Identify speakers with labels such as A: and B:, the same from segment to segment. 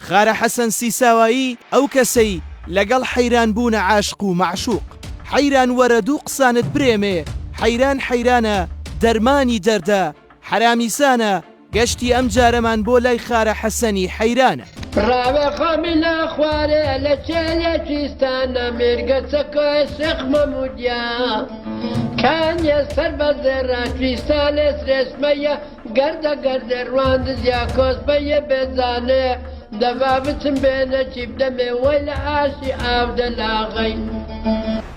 A: خارە حەسەن سیساوایی ئەو کەسەی لەگەڵ حەیران بوونە عاشق و مەعشوق حەیران وەرە دوو قسانت برێمێ حەیران حەیرانە دەرمانی دەردە حەرامیسانە گەشتی ئەم جارەمان بۆ لای خارە حەسەنی حەیرانە. ڕاوێ
B: خەمی لە خوارێ لە چێلێکی ستانە مێرگە چەکۆێ شێخ مەموودیا کانیە سەر بە زێڕە کویستانێ سرێشمەیە گەردە گەردێ رواندز یا کۆسپە یێ بێ زانێ دەڤا بچم بێنە چیپ دەمێ وەی لە ئاشی ئاو دەلاغەی.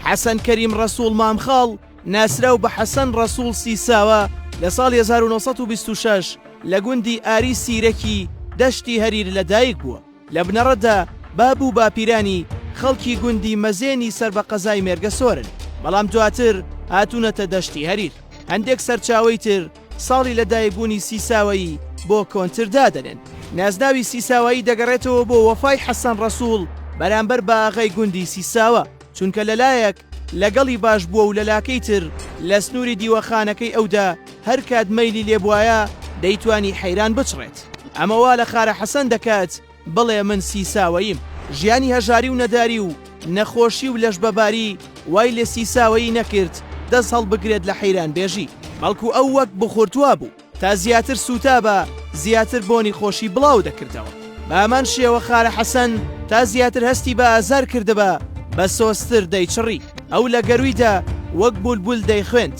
A: حەسەن کەریم ڕەسووڵ مامخاڵ، ناسراو بە حەسەن ڕەسووڵ سیساوە، لە ساڵی هەزار و نۆ سەد و بیست و شەش لە گوندی ئاری سیرەکی دەشتی هەریر لەدایک بووە. لە بنەڕەتدا باب و باپیرانی خەڵکی گوندی مەزێنی سەر بە قەزای مێرگەسۆرن، بەڵام دواتر هاتوونەتە دەشتی هەریر. هەندێک سەرچاوەی تر، ساڵی لە دایک بوونی سیساوەیی بۆ کۆنتر دادەنێن. نازناوی سیساوایی دەگەڕێتەوە بۆ وەفای حەسەن ڕەسووڵ بەرامبەر بە ئاغای گوندی سیساوە، چونکە لە لایەک لە گەڵی باش بووە و لە لاکەی تر لە سنووری دیوەخانەکەی ئەودا هەر کات مەیلی لێبوایە دەیتوانی حەیران بچڕێت. ئەمە وا لە خارە حەسەن دەکات، بڵێ من سیساوەییم. ژیانی هەژاری و نەداری و نەخۆشی و لەشبەباری وای لە سیساوەیی نەکرد دەست هەڵبگرێت لە حەیرانبێژی، بەڵکو ئەو وەک بخورتووە بوو، تا زیاتر سووتابا زیاتر بۆنی خۆشی بڵاو دەکردەوە، بە هەمان شێوە خارە حەسەن تا زیاتر هەستی بە ئازار کردبا بە سۆزتر دەیچڕی، ئەو لە گەروویدا وەک بولبول دەیخوێند.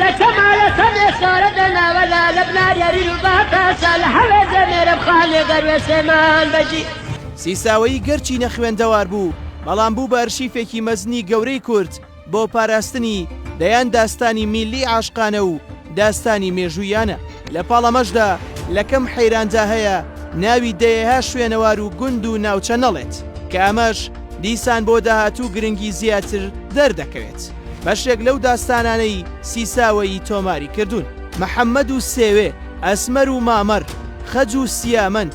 C: لە کەمالە کەم ئێسارە دە ناوە لە لە بناریا ریل و باتاسە لە هەوێ دە مێرە بخان لێ دەروێ سێمان بەجی. سیساوەیی
A: گەرچی نەخوێندەوار بوو، بەڵام بوو بە ئەرشیفێکی مەزنی گەورەی کورد بۆ پاراستنی دەیان داستانی میللی عاشقانە و داستانی مێژووییانە. لە پاڵ ئەمەشدا لە کەم حەیراندا هەیە ناوی دەیەها شوێنەوار و گوند و ناوچە نەڵێت، کە ئەمەش دیسان بۆ داهاتوو گرنگی زیاتر دەردەکەوێت. بەشێک لەو داستانانەی سیساوەیی تۆماری کردوون، محەممەد و سێوێ، ئەسمەر و مامەر، خەج و سیامەند،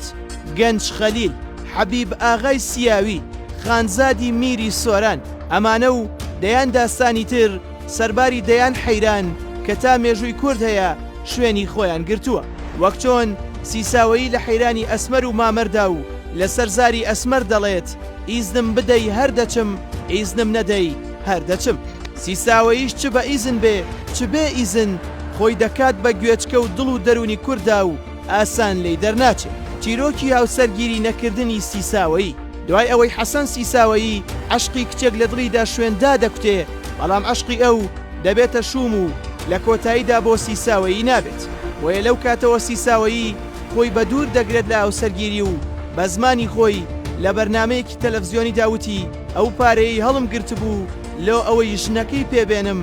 A: گەنج خەلیل، حەبیب ئاغای سیاوی، خانزادی میری سۆران، ئەمانە و دەیان داستانی تر سەرباری دەیان حەیران کە تا مێژووی کورد هەیە شوێنی خۆیان گرتووە، وەک چۆن سیساوەیی لە حەیرانی ئەسمەر و مامەردا و لەسەر زاری ئەسمەر دەڵێت، ئیزنم بدەی هەر دەچم، ئیزنم نەدەی، هەر دەچم. سیساوەییش چ بە ئیزن بێ چ بێ ئیزن، خۆی دەکات بە گوێچکە و دڵ و دەروونی کوردا و ئاسان لێی دەرناچێ. چیرۆکی هاوسەرگیری نەکردنی سیساوەیی. دوای ئەوەی حەسەن سیساوەیی عەشقی کچێک لە دڵیدا شوێن دادەکوتێ، بەڵام عەشقی ئەو دەبێتە شووم و لە کۆتاییدا بۆ سیساوەیی نابێت. بۆیە لەو کاتەوە سیساوەیی خۆی بە دوور دەگرێت لە هاوسەرگیری و بە زمانی خۆی لە بەرنامەیەکی تەلەفزیۆنیدا وتی، ئەو پارەیەی هەڵم گرتبوو لۆ ئەوەی ژنەکەی پێ بێنم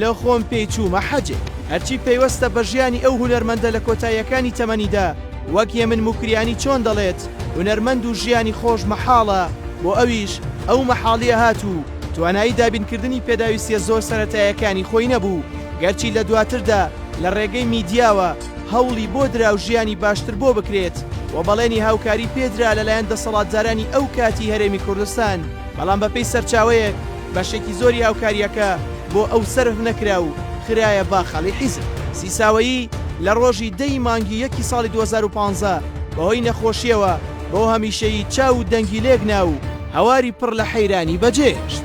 A: لە خۆم پێی چوومە حەجێ. هەرچی پەیوەستە بە ژیانی ئەو هونەرمەندە لە کۆتاییەکانی تەمەنیدا وەک یەمن موکریانی چۆن دەڵێت هونەرمەند و ژیانی خۆش مەحاڵە بۆ ئەویش ئەو مەحاڵیە هات و توانایی دابینکردنی پێداویستیە زۆر سەرەتایەکانی خۆی نەبوو گەرچی لە دواتردا لە ڕێگەی میدیاوە هەوڵی بۆ درا و ژیانی باشتر بۆ بکرێت و بەڵێنی هاوکاری پێ درا لەلایەن دەسەڵاتدارانی ئەو کاتی هەرێمی کوردستان، بەڵام بەپێی سەرچاوەیەک بەشێکی زۆری هاوکارییەکە بۆ ئەو سەرف نەکرا و خرایە باخەڵی حیزب. سیساوەیی لە ڕۆژی دە ی مانگی یەکی ساڵی دوو هەزار و پازدە بەهۆی نەخۆشییەوە بۆ هەمیشەیی چاو و دەنگی لێک نا و هەواری پڕ لە حەیرانی بەجێهێشت.